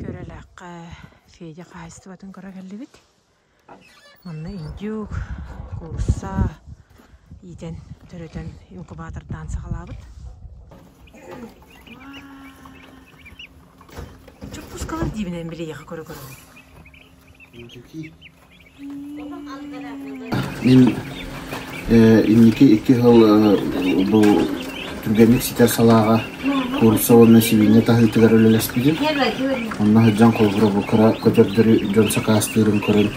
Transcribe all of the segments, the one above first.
Көрөлөөххө Федя хаһаайыстыбатын көрө кэллибит. Манна индюк, куурса иитэн, төрөтөн инкубатордаан саҕалаабыт. Чуппускалар диибинэн билиэхэ көрө көрөбүн. Индюки Мин инники икки сыл бу түргэнник ситэр салааҕа куурусса уонна сибиинньэ таһыытыгар үлэлэспитим. Онно сылдьан холобура бу кыра көтөрдөрү дьон сакаастыырын көрөн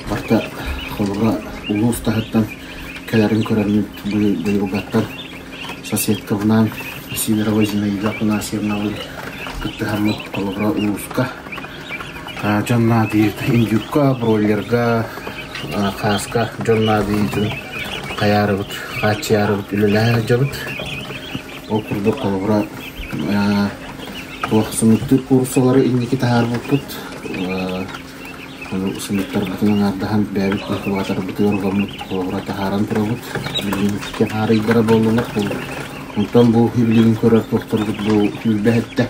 барта холобура улуус таһыттан кэлэрин көрөммүт быйылгаттан соседкабынаан Синерова Зинаида Афанасьевнабын кыттыһаммыт холобура улууска дьон наадыйыытын юбка, бройлерга, хааска дьон наадыйыытын хайаарыбыт, хааччыйаарыбыт үлэлэһэ сылдьабыт. Ол курдук холобура туох сымыыттыыр куурусалары инники таһаарбыппыт. Ону сымыыттарбытын аҥаардаһан бэйэбит инкубаторбытыгар угаммыт холобура таһааран турабыт. Билиҥҥитгэ хаарыйдара буоллулар. Онтон бу билигин көрөр туохтарбыт бу түүлбэһиттэ.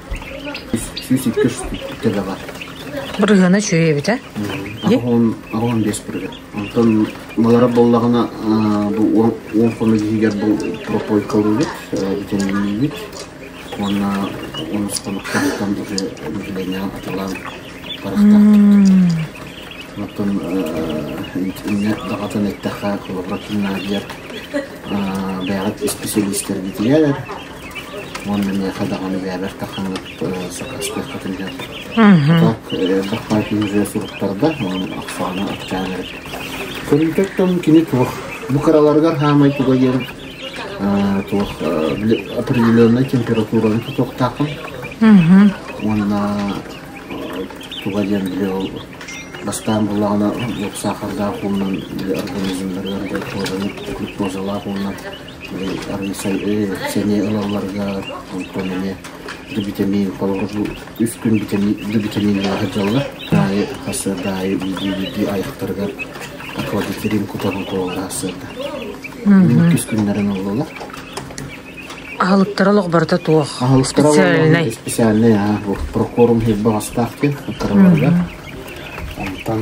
Бырыһыана үчүгэй эбитэ. Аҕам биэс бырыһыан. Онтон уолара буоллаҕына бу уон хомус иһигэр пропойкалыыбыт, битэминиибит уонна онус хонуктаахтан уже населениеҕа атылаан барахтаахтык. Оттон инньэ даҕатан эттэххэ, коллаборативнай диэн бэйэҕит исписэлиистэргитигэр Уонна миэхэ даҕаны бэйэбэр тахханнык сакаастыах кэтиллэн хата эрэ хаачыһыа суруттарда, онон ахсаана акчаан эрэттэ. Көрүүтүттэн кини туох бу кыраларыгар хаамай туга диэн туох определенной температураны тутуохтаахпын уонна туга диэн били ол бастаан буллаҕына уопсаахардаах уонунан били организмнарыгар гluкозалаах уонна сэниэ ылалларга онтон эмиэ битэмиин холобуру үстүн битэмииннээхэ дьаллар аайы сарсыарда аайы биирдии биирдии айахтарыгар хладителин кутарын куолга сырда иккис күннэрин ыллылар аһылыктара олоҕбарыта туох аһылыктара специальнай специальнай аа прокорум хиэрбэҕэстаах диэн аттараларыгар онтон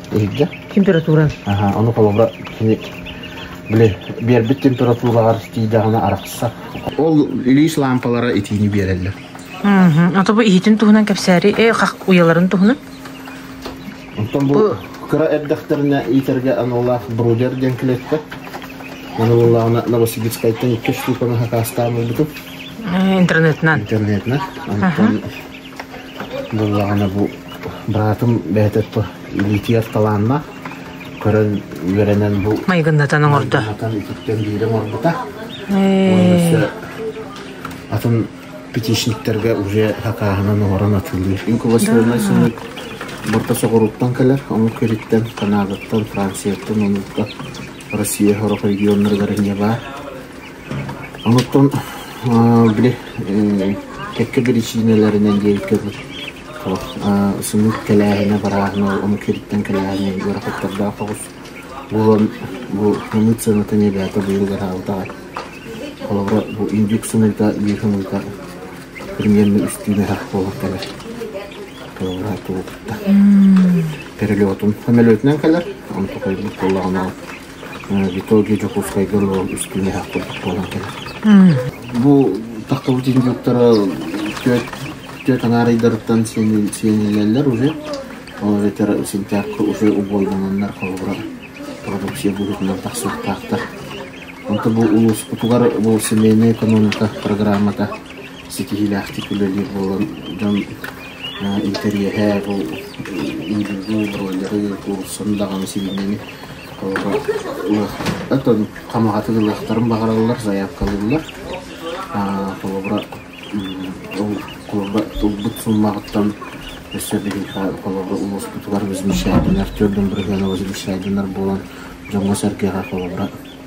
Иһирдьэ. Температуран. Аха, ону холобура кини били биэрбит температуралар тиийдэҕинэ арахса. Ол илиис лаампалара итиини биэрэллэр. А то бу иһитин туһунан кэпсээри э уйаларын туһунан. Оттон бу кыра эрдэхтэринэ иитэргэ аналлаах брудер диэн клетка. Аны буллаҕына Новосибирскайтан икки штуканы хакаастаан булбутум. Интернетынан. Интернетинэн. Онтон Буоллаҕына бу быраатым бэйэтэ илиитигэр талааннаах, көрөн үөрэнэн бу майгыннатан оҥордо. Майгыннатан үтүктэн биирэ оҥорбута. Уонна өссө атын пятичниктэргэ уже хакааһынан оҥорон атыылыыр. Инкубационнай сымыыт Борто Соҕурууттан кэлэр, омук үриттэн, Канадаттан, Францияттан, онуукка Россия сорох регионнарыгар эмиэ баар. Онтон били кэккэ биричиинэлэринэн диэбиккэ дылы сымыыт кэлээһинэ барааһына омук сириттэн кэлээһинэ ыарахаттардаах оҕус буолан бу сымыыт сыанатын эбээтэ быйыл ыһаабыт аҕай. Холобура бу индюк сымыыта, дьиэ сымыыта примерно үстүүн ыһах буолан кэлэр. Холобура тугу кытта. Перелетун. Самолетунан кэлэр, онто хойбут буоллаҕына Виталий Дьокуускайга олорон үстүҥэһэх курдук буолан кэлэр. Бу таххабыт индиктара түөрт түөрт анаарыйдарыттан сиэниллэллэр уже. Ол этэр сентябрьга уже убойдананнар холобура продукция быһыытынан тахсыахтаахтар. Онто бу улууспутугар бу семейная экономика программата ситиһиилээхтик үлэлиир буолан дьон интэриэһэ бу иилии роллеры булсан даҕаны сибиинньэни толору ылыахтарын хамаҕатын ылыахтарын баҕараллар заявкалыыллар холобура ол холобура ылбыт суммаҕыттан өссө биһиэхэ холобура улууспутугар возмещаемынар төрдүн бырыһыана возмещаемынар буолан дьоҥҥо-сэргэҕэ холобура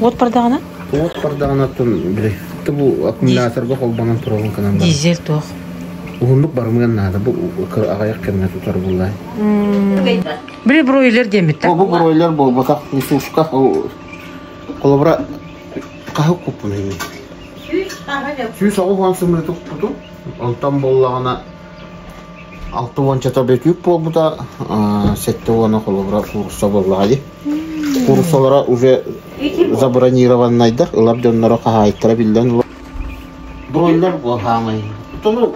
Уот бардаҕына? Уот бардаҕына оттон били бу аккумуляторга холбонон турабын гынан бар. Дизель туох? Уһуннук барымыан наада. Бу аҕайах кэмҥэ тутар буллай. Били бройлер диэммиттэ. Бу бройлер буолбатах. Висушка холобура хаһык куппун. Сүүс аҕыс уон сымыытык туту. Онтон боллаҕына Алта уончата бөтүүк буолбута, сэттэ уона холобура куурусса буоллаҕа дии. Кууруссалара уже забронированнайдар, ылар дьонноро хаһаайыттара биллэн Бройлер буол хаамай. Тunu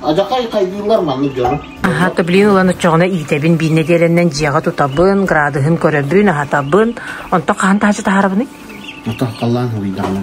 адьахай хайгыыллар маннык дьону. Аха, төблиин ылан үтчөҕүнэ иитэбин бииннэ диэлэннэн дьиэҕэ тутабын, градыһын көрөбүн, аһатабын. Онто хаһан таһаччы таһарабыный? Ата халлаан хабыйдаҕына.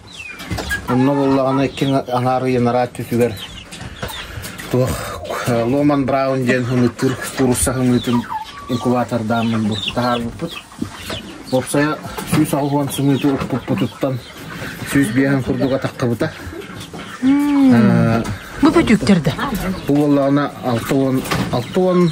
Онно буоллаҕына икки аҥаар ыйанараа өттүтүгэр туох Ломан Браун диэн хымыыттыыр куурусса хымыытын инкубатордааммын таһаарбыппыт. Уопсайа сүүс аҕыс уон сымыыты укпуппутуттан сүүс биэһин курдук атахтабыта. Бу бөтүүктэр да? Бу буоллаҕына алта уон алта уон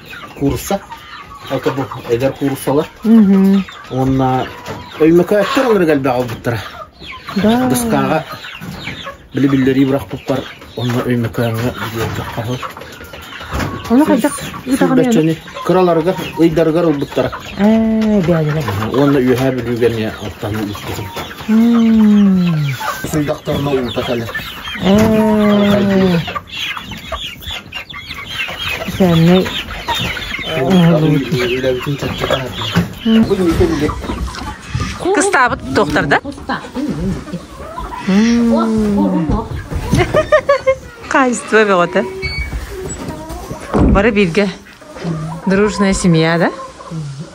куурусса это бу эдэр куурусалар уонна Өймөкөөттөр олорго элбэх албыттара Дыскаага били биллэрии бырахпыппар онно Өймөкөөҥҥө диэбитэ хаһы Оны хайдах ыытаҕын кыраларыгар ыйдарыгар ылбыттара бээнилэр уонна үөһээ бүлүүгэни аттан ыыппытым сындақтарына уута кэле Социальнай Кыстаабыт туохтар да? Хаайство бөҕөтө. Бары бирге дружная семья, да?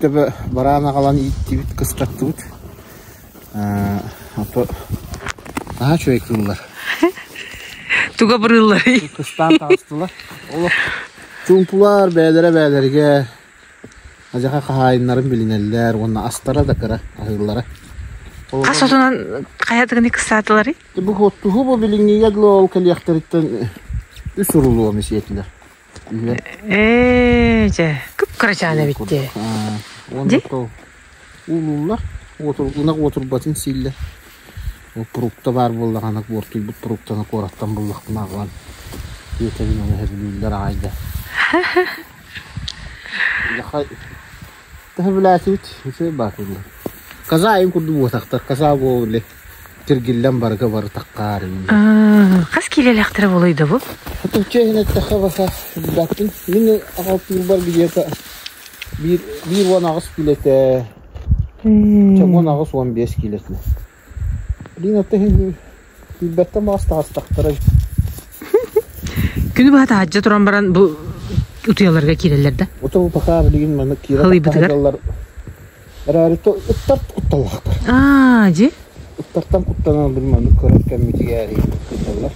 Төбө бараан аҕалан ииттибит, кыстаттыбыт. А то наһаа үчүгэй кыыллар. Туга бырыылларый? Кыстаан таҕыстылар. Олох чуумпулар бээлэрэ бээлэригэ ажаха хаһаайыннарын билинэллэр уонна астара да кыра аһыыллара. Ас отунан хайатыгыны кыстаатылары? Бу хоттуһу бу билингиге глол кэлиэхтэриттэн үс урулуо месиэтилер. Ээ, дьэ, кып-кырачаан эбит дии. Уонна то уулууллар. Уотур, ынах уотурбатын сииллэр. Фрукта баар буоллаҕына, буортуйбут фруктаны куораттан буллахпына аҕалан тиэтэбин оны һөргүүллэр аҕай да. Яха төһө билээтибит? Үчүгэй баатыллар. Казаим курдук буотахтар. Каза буоллы. Тиргиллэн барыга барытахха аарыыбын. хас киилэлээхтэрэ болойдобу Ичэ иһин эттэхэ баса билбэппин. Мин аҕалтыырбар где-то биир биир уон аҕыс киилэтэ, чогуон аҕыс уон биэс киилэтэ. Блин, ата иһин билбэттэн баҕас таҕыстахтара. күнү быһа таһаджа туран баран бу утуйаларга киирэллэр да Ото пока билигин маны киирэ Халыйбытыгар? таһаjallar Эрээри ыттар кутталлаахтар. Аа, дьи? Ыттартан куттанан били маннык көрөр кэммитигээри кытталлар.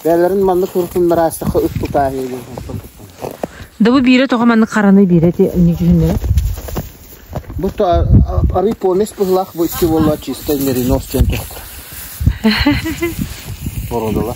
Бэйэлэрин маннык көрүтүн араастакка ыт тутааһыыгын хантан куттанар. Да бу биирэ тоҕо маннык хараны биирэ ти үнүдүһүннэрэ. Бу арый помесь быһылаах бу икки буолла чисто меринос диэн тохтор. Бородала.